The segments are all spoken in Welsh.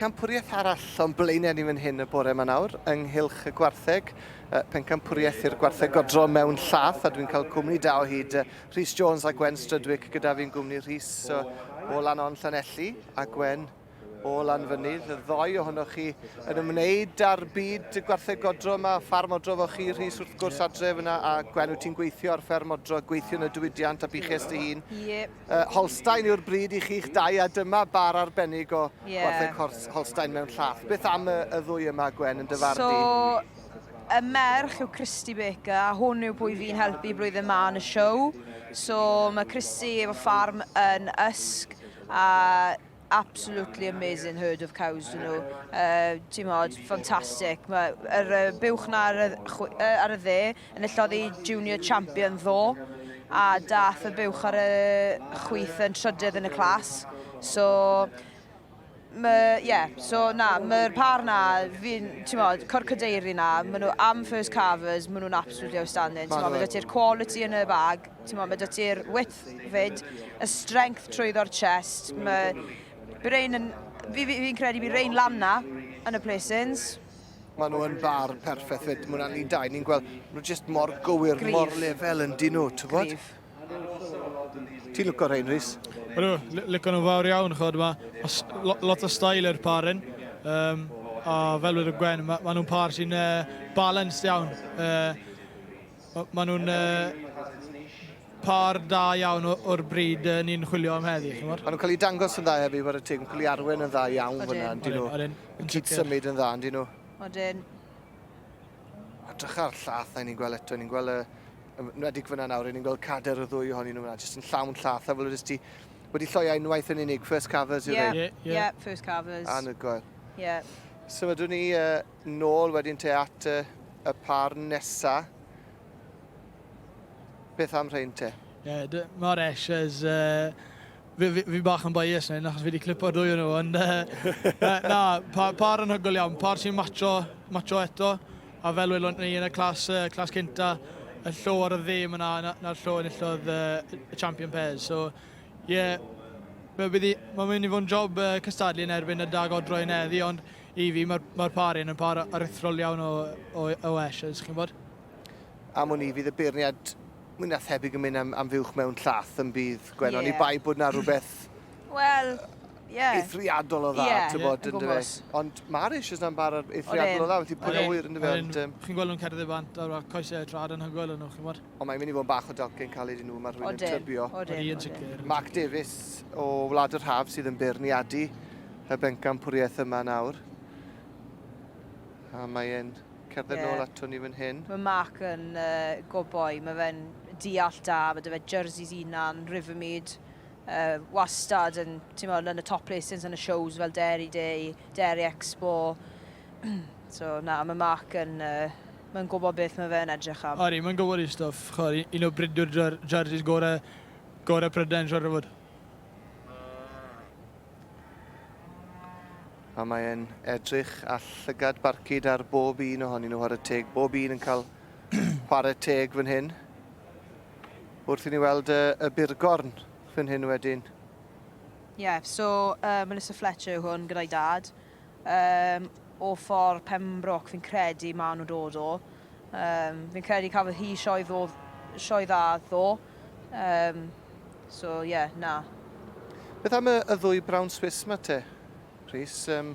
Pencampwriaeth arall o'n blaenau ni fan hyn y bore 'ma nawr, ynghylch y gwartheg, pencampwriaeth i'r gwartheg godro mewn llath, a dwi'n cael cwmni da o hyd, Rhys Jones a Gwen Strydwick gyda fi'n gwmni, Rhys o lan o'n Llanelli, a Gwen o lan fynydd, y ddoi ohonoch chi yn ymwneud â'r byd y gwartheg godro yma, ffarm odro fo chi, Rhys wrth gwrs adref yna, a Gwen wyt ti'n gweithio ar fferm odro, gweithio yn y diwydiant a buches dy hun. Ie. uh, Holstein yw'r bryd i chi'ch dau a dyma bar arbennig o yeah. gwartheg hors, Holstein mewn llath. Beth am y, y ddwy yma, Gwen, yn dyfarnu? So, y merch yw Christy Baker a hwn yw pwy fi'n helpu blwyddyn ma yn y siow. So mae Christy efo ffarm yn Ysg a absolutely amazing herd of cows dyn nhw. Uh, Ti'n modd, ffantastig. Mae yr uh, buwch na ar y, uh, ar y dde yn illoddi junior champion ddo a dath y buwch ar y chwyth yn trydydd yn y clas. So, ie, yeah, so na, mae'r par na, fi'n, ti'n modd, cor cadeiri na, maen nhw am first carvers, maen nhw'n absolutely outstanding. Ti'n modd, mae ti'r quality yn y bag, Ti'n mo, mae dy ti'r width fyd, y strength trwyddo'r chest, mae Brain yn... Fi'n fi, fi credu bydd Rain lan na yn y placings. Mae nhw yn bar perffaith fyd. Mae hwnna'n ni dau. Ni'n gweld nhw jyst mor gywir, Grif. mor lefel yn dyn nhw, ti'n bod? Ti'n lwco Rain, Rhys? Ydw, lwco nhw fawr iawn, chod. Mae ma lot o stael i'r par yn. Um, a fel wedi Gwen, mae ma nhw'n par sy'n uh, balanced iawn. Uh, Maen nhw'n pâr da iawn o'r bryd ni'n chwilio am heddi, chi'n gwybod? Maen nhw'n cael ei dangos yn dda hefyd, bod y teg yn cael ei arwen yn dda iawn fyna, yn dyn nhw. Yn cyd symud yn dda, yn dyn nhw. Odyn. A drycha'r llath na ni'n gweld eto, ni'n gweld y... Nwedig fyna nawr, ni'n gweld cader y ddwy ohonyn nhw fyna, jyst yn llawn llath, a fel ydys ti wedi lloi ein waith yn unig, first carvers, yw yeah, yeah, yeah, first carvers. Anhygoel. Yeah. Symudwn ni uh, Nôl wedyn te at y, y par nesa. Beth am rhain te? Ie, yeah, mae'r Eshes... Uh, fi, fi, fi bach yn bias na achos fi wedi clipo'r dwy o'n nhw, ond uh, na, pa, par yn hygol iawn, par sy'n macho, macho eto, a fel welwn ni yn y clas, uh, clas cynta, y llo ar y ddim yna, na'r na, na llo yn illodd uh, y champion pairs, so, ie, yeah, mae'n mynd i fod yn job uh, cystadlu yn erbyn y dag odro yn eddi, ond I fi mae'r mae par hyn yn par aruthrol iawn o, o, o Ashes, chi'n bod? Am wn i, fydd y beirniad mwy na thebyg yn mynd am, am fuwch mewn llath yn bydd Gwen, yeah. oni bai bod na rhywbeth... Wel, yeah. eithriadol o dda, yeah. ti'n bod, yn dweud. Ond mae'r eisiau na'n bar eithriadol o dda, felly pwy'n awyr, yn dweud. Chi'n gweld nhw'n cerdded bant, a'r coesau trad yn hygoel yn nhw, chi'n bod? Ond mae'n mynd i fod yn bach o dalcyn caled i nhw, mae rhywun yn trybio. Odyn, odyn. Mark Davies o Wlad yr Haf sydd yn beirniadu y bencan pwriaeth yma nawr. A mae'n cerdded yeah. nôl ato ni fan hyn. Mae Mark yn uh, goboi, mae fe'n deall da, mae dyfa jerseys unan, Rivermead, uh, wastad yn, ti'n yn y top placings yn y shows fel Dairy Day, Dairy Expo, So, na, mae Mark yn, yy, mae'n gwybod beth mae fe'n edrych am. Odi, mae'n gwybod ei stwff. Chod, un o bridwyr jer jerseys gore, gore Prydain, siarad o fod. A mae'n edrych a llygad barcud ar bob un ohonyn nhw ar y teg. Bob un yn cael chwarae teg fan hyn. Wrth i ni weld y, y burgorn fan hyn wedyn. Ie, yeah, so uh, Melissa Fletcher yw hwn gyda'i dad. Yym o ffordd Pembroke fi'n credu ma' nhw'n dod o. Yym fi'n credu cafodd hi sioe ddo sioe dda ddo. Yym so ie yeah, na. Beth am y, y ddwy brown Swiss ma te, Rhys? Um,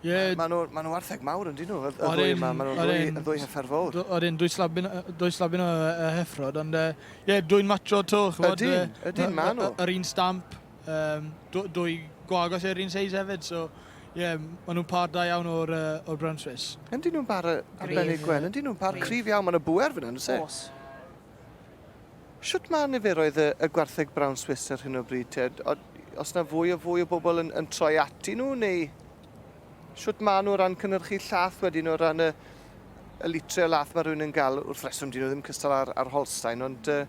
yeah. Maen nhw, ma nhw artheg mawr yn dyn nhw, y, y ddwy yma. Maen nhw'n ddwy, y ddwy heffer fawr. O'r un, dwy slabyn, dwy slabyn o uh, heffrod, ond ie, uh, yeah, dwy'n matcho to. Ydyn, ydyn, maen nhw. Yr un stamp. Um, dwy gwagos yr un seis hefyd, so ie, yeah, maen nhw'n par da iawn o'r, uh, or Brown Swiss. Yndyn nhw'n par y Benny Gwen, yndyn nhw'n par cryf iawn, maen nhw bwer fyna, nhw'n se? Os. Siwt mae niferoedd y, y gwartheg Brown Swiss ar hyn o bryd, te? Os na fwy o fwy o bobl yn, yn troi ati nhw, neu siwt mae nhw o ran cynnyrchu llath wedyn o ran y, y litre o lath mae rhywun yn gael wrth reswm dyn nhw ddim cystal ar, ar Holstein, ond uh,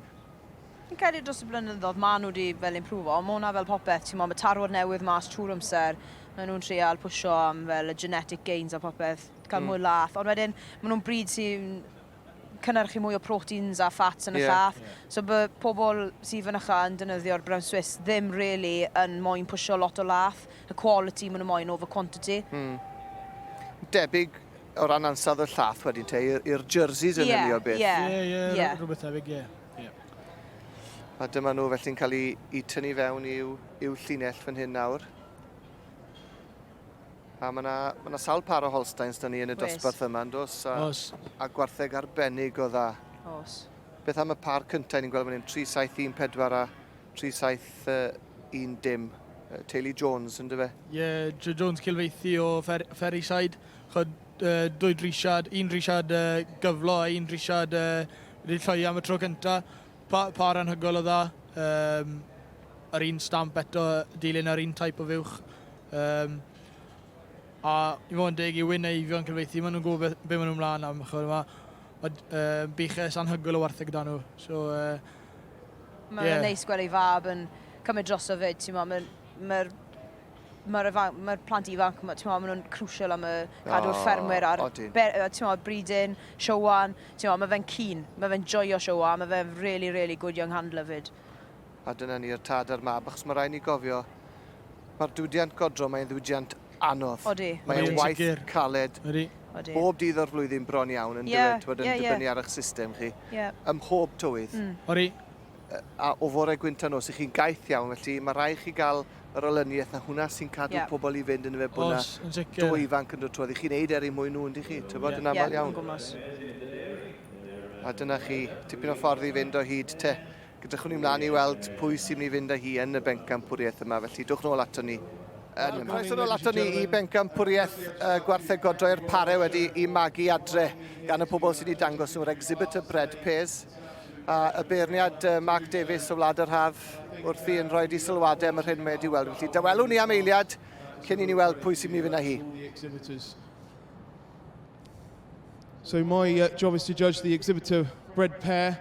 Fi'n credu dros y blynyddoedd maen nhw wedi fel imprwfo, ond mae hwnna fel popeth, ti'n mo, mae tarwad newydd mas trwy'r amser, maen nhw'n trial pwysio am fel y genetic gains a popeth, cael mm. mwy lath, ond wedyn maen nhw'n bryd sy'n cynnyrchu mwy o proteins a fats yn y yeah, llath. Yeah. So by pobl sydd fynycha yn dynyddio'r brown Swiss ddim really yn moyn pwysio lot o lath, y quality maen nhw'n moyn over quantity. Mm. Debyg o ran ansawdd y llath wedyn te, i'r jerseys yn yeah, hynny o beth. Ie, yeah, ie, yeah, yeah. rhywbeth debyg, ie. Yeah. Yeah. A dyma nhw felly'n cael eu tynnu fewn i'w, i'w llinell fan hyn nawr. A mae yna ma, na, sawl par o Holsteins da ni yn y dosbarth yma, yn dos? A, Os. a gwartheg arbennig o dda. Os. Beth am y par cyntaf ni'n gweld fan hyn? 3714 a 3710. Uh, Teulu Jones, yn dyfa? Ie, yeah, Joe Jones cilfeithi o Fer Ferryside. Chod, uh, dwy drisiad, un drisiad uh, gyflo a un drisiad uh, Rhydd Lloi am y tro cynta. Pa, pa ar anhygoel o dda. Um, yr un stamp eto, dilyn yr un type o fuwch. Um, a i fod yn deg i wyn eifion cylfeithi, maen nhw'n gwybod beth maen nhw'n mlaen am. Chod, ma, ma, uh, buches anhygoel o wartheg dan nhw. So, uh, Mae'n yeah. neis gweld ei fab yn cymryd droso fyd, ti'n mo, mae'r ma mae'r mae plant ifanc, mae, ti'n maen nhw'n crucial am y cadw'r oh, ffermwyr a'r ti'n bridin, siowan, ti'n mae fe'n cyn, mae fe'n joio siowa, mae fe'n really, really good young handler fyd. A dyna ni'r tad a'r mab, achos mae rhaid ni gofio, mae'r diwydiant godro, mae'n ddiwydiant anodd. Odi. Mae'n waith caled. Odi. Bob dydd o'r flwyddyn bron iawn yn yeah, dywed, yn yeah, dibynnu yeah. ar eich system chi. Yeah. Ym mhob tywydd. Mm. Odi. a o fore gwynt a nos, i chi'n gaeth iawn, felly mae rhaid chi gael yr olyniaeth na hwnna sy'n cadw yep. pobl i fynd yn y fe bod yna dwy ifanc yn dod trwy. I chi'n neud er i mwy nhw, ynddi chi? Ti'n bod yn aml iawn. A dyna chi, tipyn o ffordd i fynd o hyd te. Gydrychwn ni mlaen i weld pwy sy'n mynd i fynd â hi yn y bencampwriaeth yma, felly dwch nôl ato ni yn yma. Croeso nôl ato ni i bencampwriaeth uh, gwarthegod droi'r pare wedi i magu adre gan y pobl sy'n ei dangos nhw'r exhibitor bread pairs. A y beirniad Mark Davies o Wlad yr Haf wrth i yn rhoi di sylwadau am yr hyn mae wedi weld. Felly dawelwn ni am eiliad cyn i ni weld pwy sy'n mynd i fynd â hi. So my uh, job is to judge the exhibitor bred pair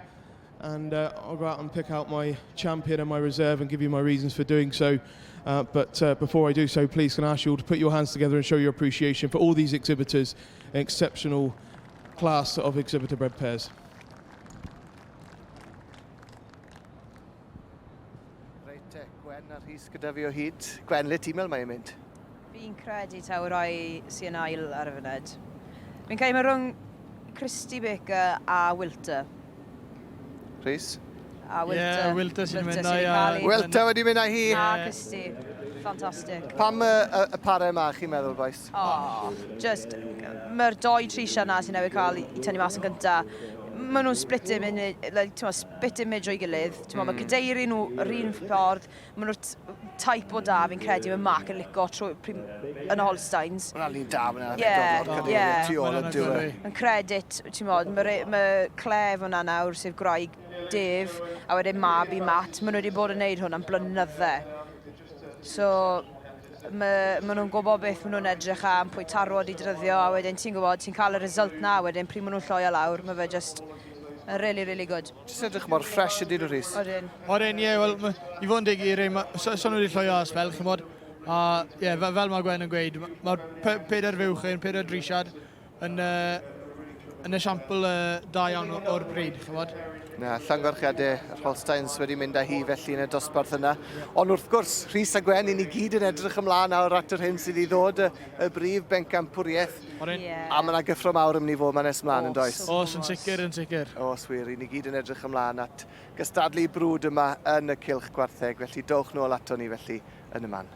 and uh, I'll go out and pick out my champion and my reserve and give you my reasons for doing so. Uh, but uh, before I do so, please can I ask you all to put your hands together and show your appreciation for all these exhibitors, an exceptional class of exhibitor bred pairs. Reit te, Gwen a Rhys gyda fi o hyd. Gwen, le ti'n meddwl mae'n mynd? Fi'n credu taw y rai sy'n ail ar y funud. Fi'n cael mae rhwng Christy Baker a Wilter. Rhys? A Wilter. Ie, yeah, Wilter sy'n mynd na i. Wilter wedi mynd na hi. A Christy. Fantastic. Pam y, y, y pare yma, chi'n meddwl, boys? O, jyst, mae'r dou trisiau yna sy'n newydd cael eu tynnu mas yn gynta, maen nhw'n split image, like, ti'n gwbod, split image o'i gilydd. Ti'n gwbod, mae cadeirydd nhw yr un ffordd, maen nhw'r t- type o da fi'n credu mae Mark yn licio trwy prim yn y Holsteins. Mae'n rhan un da fan hynna, Ie, Donald, ie. cadeirydd tu ôl yn Ma'n diwedd. lyfli. Yn credit, ti'n gwbod, mae re- mae Claire fan'na nawr, sef gwraig Dave, a wedyn mab i Matt, maen nhw wedi bod yn wneud hwn am blynydde. So, Maen nhw'n gwybod beth maen nhw'n edrych am, pwy tarwod i dryddio, a wedyn ti'n gwybod, ti'n cael y result na, a wedyn pryd maen nhw'n lloio lawr, mae fe just yn really, really good. Jyst edrych mor ffresh ydyn nhw, Rhys. Odyn. Odyn, ie, wel, i fod yn deg i Rym, so, so nhw wedi lloio as fel, chymod, a ie, fel, fel mae Gwen yn gweud, mae'r pedair fuwch yn, pedair drisiad, yn, uh, yn esiampl uh, da iawn o'r bryd, chymod. Na, llangorchiadau yr Holsteins wedi mynd â hi felly yn y dosbarth yna. Ond wrth gwrs, Rhys a Gwen, i ni gyd yn edrych ymlaen awr at yr hyn sydd i ddod y, y brif bencampwriaeth. Yeah. A mae yna gyffro mawr ymni fod mae'n nes ymlaen yn does? Os, yn sicr, yn sicr. Os wir, i ni gyd yn edrych ymlaen at gystadlu brwd yma yn y cilch gwartheg, felly dowch nôl ato ni felly yn y man.